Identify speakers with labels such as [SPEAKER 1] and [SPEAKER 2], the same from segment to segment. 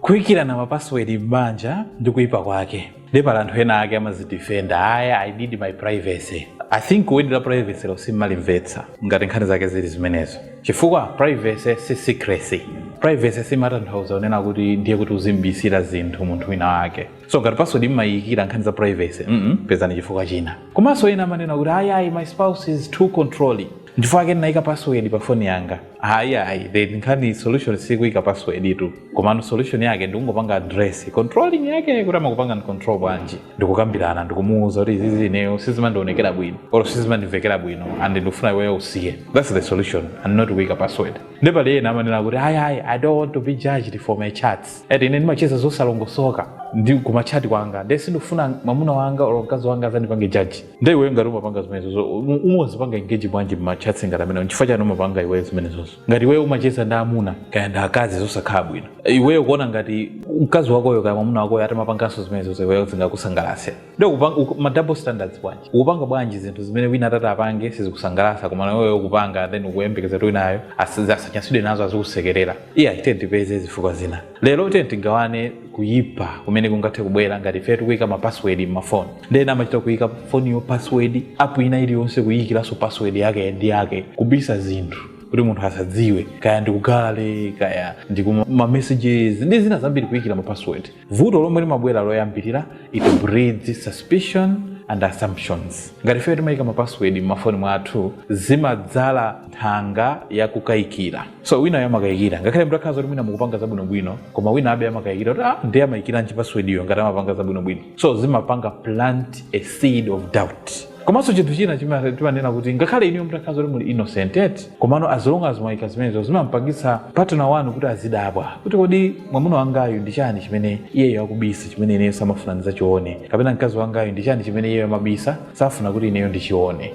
[SPEAKER 1] Kuikirana ma password m'banja ndi kuipa kwake. Nde pali anthu ena ake amazidefender, ayi I need my privacy. I think word la privacy lo simmalimvetsa ngati nkhani zake zili zimenezo. Chifukwa privacy si secrecy. Privacy simatanthauza kunena kuti ndiye kuti uzim'bisira zinthu munthu wina wake. So ngati password mmaiikira nkhani za privacy, mm pezani chifukwa china. Komanso ena amanena kuti ayi ayi my spouse is too controlling. Nchifukwa chake ndinaika password pa phone yanga. ayi ayi the nkhani solution sikuika password tu komano solution yake ndikungopanga address controlling yake kuti amakupanga control bwanji ndikukambirana ndikumuuza kuti izizi ineyo sizimandionekera bwino or sizimandimvekera bwino and ndikufuna iweyo usiye that's the solution and not kuika password nde pali ena amanena kuti ayi ayi i don't want to be judged for my chats ati ine ndimacheza zosalongosoka ndi kumachati kwanga ndiye sindikufuna mwamuna wanga or mkazi wanga azandipange judge nde iweyo ngati umapanga zimenezozo um- umadzipanga engage bwanji mmachatsi ngati amene nchifukwa chani umapanga iweyo zimenezozo ngati iweyo umacheza ndi amuna kaya ndi akazi zosakhala bwino iweyo kuona ngati mkazi wakoyo kaya mwamuna wakoyo atamapanganso zimenezozo iweyo zingakusangalatse nde ukupanga- uku- ma double standards bwanji ukupanga bwanji zinthu zimene wina atati apange sizikusangalatsa koma naweyo ukupanga then ukuyembekeza kuti winayo asi- asanyasidwe nazo azikusekerera iye achite ndipeze zifukwa zina lero tiyeni tigawane kuyipa kumene kungathe kubwera ngati ife tikuyika ma password m'mafoni nde ena amachita kuyika foniyo password app ina iliyonse kuyikiranso password yake ndi yake kubisa zinthu kuti munthu asadziwe kaya ndikugale kaya ndikumamessages ndi zina zambiri kuyikira ma password vuto lomwe limabwera loyambirira it breeds suspicion and assumptions ngati ife timayika ma password m'mafoni mwathu zimadzala nthanga yakukayikira so winayo amakayikira ngakhale mutakhala zoti mwina mukupanga zabwinobwino koma winayobe amakayikira kuti ah, ndiye amayikiranji passwordiyo ngati amapanga zabwinobwino so zimapanga plant a seed of doubt komanso chinthu china chima- timanena kuti ngakhale inuyo mutakhala zoti muli innocent eti komano as long as mwayika zimenezo zimampangitsa partner wanu kuti azidabwa kuti kodi mwamuna wangayu ndi chani chimene iyeyo akubisa chimene ineyo samafuna ndizachione kapena mkazi wangayu ndi chani chimene iyeyo amabisa safuna kuti ineyo ndichione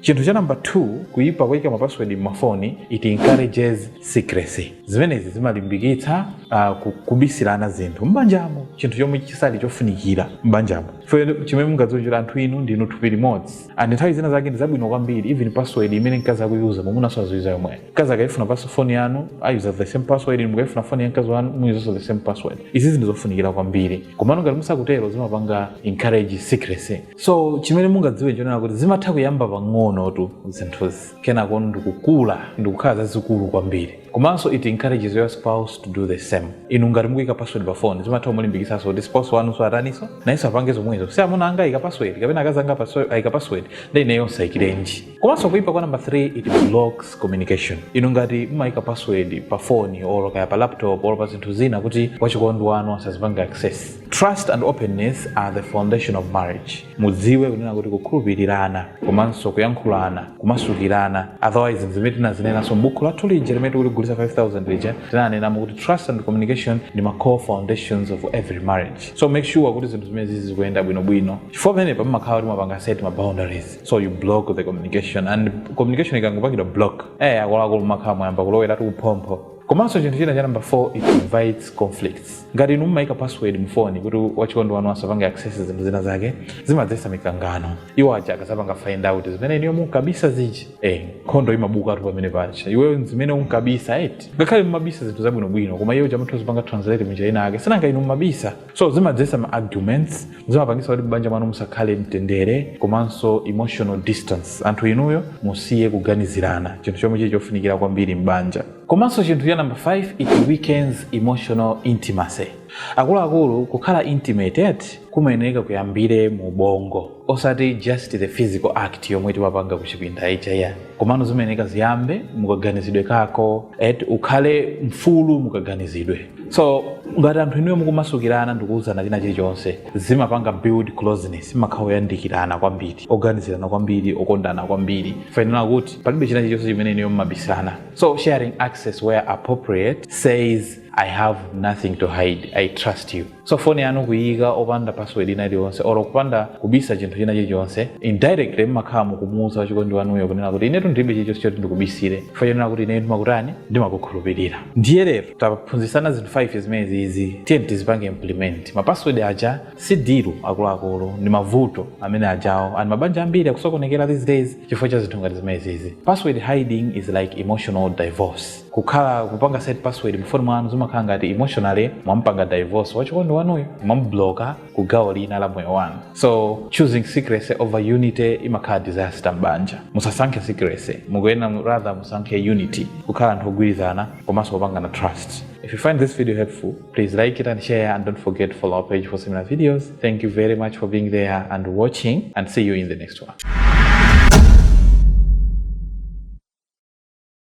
[SPEAKER 1] chinthu cha namba 2 kuyipa kuyika mapaswedi m'mafoni it encourages secrecy zimenezi zimalimbikitsa uh, ku- kubisirana zinthu m'banjamo chinthu chomwe chisali chofunikira m'banjamo fe chimene mungadziwe nchakuti anthu inu ndinu thupi limodzi and nthawi zina zake ndi zabwino kwambiri even password imene mkazi akuyuza mwamunanso aziuza yomweyo mkazi akaifuna phone yanu ayuza the same password inu mukaifuna foni ya mkazi wanu muyuzanso the same password izi ndi zofunikira kwambiri komano ngati musakutero zimapanga encourage secrecy so chimene mungadziwe nchonena kuti zimatha kuyamba pang'onotu zinthuzi kenako ndikukula ndikukhala zazikulu kwambiri komanso it encourages your spouse to do the same inu ngati mukuyika password pa phone zimatha kumulimbikitsanso kuti spouse wanu so ataniso nayenso apange zomwezo si amuna anga ayika password kapena akazi anga paso- ayika password nde ineyonso ndilekerenji komanso kuipa kwa number 3 it blocks communication inu ngati mmaika password pa phone or kaya pa laptop or pa zinthu zina kuti wachikondi wanu asazipange access trust and openness are the foundation of marriage mudziwe kunena kuti kukhulupirirana komanso kuyankhulana kumasukirana otherwise zinthu zimene tinazinenanso m'buku lathu lija limene tikuligulisa 5000 lija tinanenamo kuti trust and communication ndi ma core foundations of every marriage so make sure kuti zinthu zimene zizi zikuyenda bwinobwino chifukwa pamene pamamakhala kuti mwapanga set ma boundaries so you block the communication and communication ikangopangidwa block eh akuluakulu makhala mwayamba kuloweratu kuphompho komanso chinthu china cha number 4 it invites conflicts ngati inu mumayika password mfoni kuti wachikondi wanu asapange access zinthu zina zake zimadzetsa mikangano iwo aja akadzapanga find out zimene inuyo munkabisa zija eh nkhondo imabukatu pamene paja iweyo zimene unkabisa eti ngakhale mumabisa zinthu zabwinobwino koma iye uja amatha kuzipanga translate munjira ina yake sinanga inu mumabisa so zimadzesa ma arguments zimapangisa kuti m'banja mwanu musakhale mtendere komanso emotional distance anthu inuyo musiye kuganizirana chinthu chomwe chili chofunikira kwambiri m'banja komanso chinthu cha number 5 it weakens emotional intimacy akuluakulu kukhala intimate eti kumayeneka kuyambire mu ubongo osati just the physical act yomwe timapanga kuchipinda ija ya komano zimayeneka ziyambe mukaganizidwe kako eti ukhale mfulu mukaganizidwe so ngati anthu inuyo mukumasukirana ndikuwuzana china chilichonse zimapanga build closeness mumakhala oyandikirana kwambiri oganizirana kwambiri okondana kwambiri chifukwa chonena kuti palibe china chilichonse chimene inuyo mumabisana so sharing access where appropriate says i have nothing to hide i trust you so foni yanu kuyika opanda password ina iliyonse or kupanda kubisa chinthu china chilichonse indirectly mmakhala mukumuwuza wachikondi wanuyo kunena kuti inetu ndilibe chilichonse choti ndikubisire chifukwa chonena kuti ineyo ndimakutani ndimakukhulupirira ndiye lero taphunzitsana zinthu 5 zimenezi izi tiyeni tizipange implement mapassword aja si dilu akuluakulu ndi mavuto amene ajawo and mabanja ambiri akusokonekera these days chifukwa cha zinthu ngati zimenezi izi password hiding is like emotional divorce kukhala kupanga set password mfoni mwanu zimakhala ngati emotionally mwampanga divorce wachikondi wanuyo mwamubloka ku gawo lina la moyo wanu so choosing secrecy over unity imakhala disaster m'banja musasankhe secrecy mukuyenera mu- rather musankhe unity kukhala anthu ogwirizana komanso kupangana trust if you find this video helpful please like it and share and don't forget to follow our page for similar videos thank you very much for being there and watching and see you in the next one